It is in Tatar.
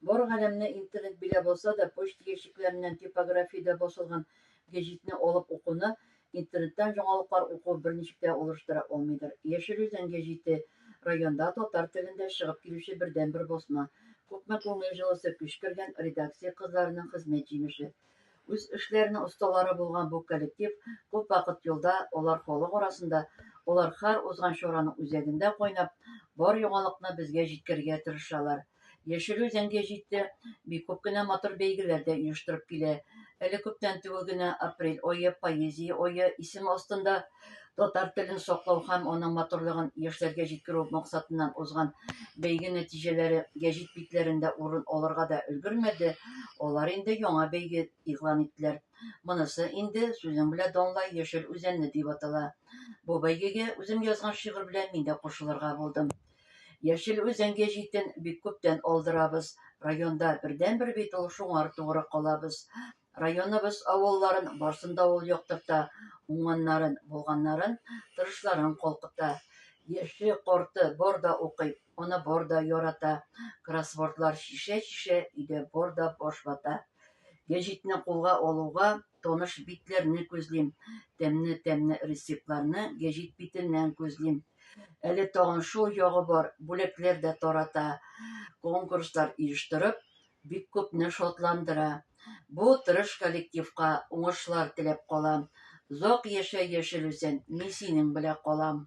Бар галәмне интернет биләп алса да, почта ящикләреннән типографиядә басылган гәҗитне алып укуны интернеттан яңалыклар уку берничек тә алыштыра алмыйдыр. Яшел Үзән гәҗите, районда татар телендә чыгып килүче бердәнбер басма. Күпме күңел җылысы, көч кергән редакция кызларының хезмәт җимеше. Үз эшләренең осталары булган бу коллектив күп вакыт юлда, алар халык арасында, алар һәр узган чараның үзәгендә кайнап, бар яңалыкны безгә җиткерергә тырышалар. Яшел Үзәнгә җитте, бик күп кенә матур бәйгеләр дә оештырып килә. Әле күптән түгел генә апрель ае, поэзия ае исеме астында Татар телен саклау һәм аның матурлыгын яшьләргә җиткерү максатыннан узган бәйге нәтиҗәләре гәҗит битләрендә урын алырга да өлгермәде. Алар инде яңа бәйге игълан иттеләр. Монысы инде сүзең белән данлай яшел үзәнне дип атала. Бу бәйгегә үзем язган шигырь белән мин дә кушылырга булдым. Яшел үзән гәҗитен бик күптән алдырабыз. Районда бердән-бер бит ул, шуңар тугры калабыз. Районыбыз авылларын барсын да ул яктырта, уңганнарын, булганнарын, тырышларын калкыта. Яше, корты бар да укый, аны бар да ярата. Кроссвордлар чишә-чишә, өйдә бар да баш вата. Гәҗитне кулга алуга, таныш битләрне күзлим. Тәмне-тәмне рецептларны гәҗит битеннән күзлим. Әле тагын шул ягы бар, бүләкләр дә тарата. Конкурслар иештырып, Бик күпне шатландыра. Бу тырыш коллективка уңышлар теләп калам. Зак яшә яшел үсен, мин синең белә калам.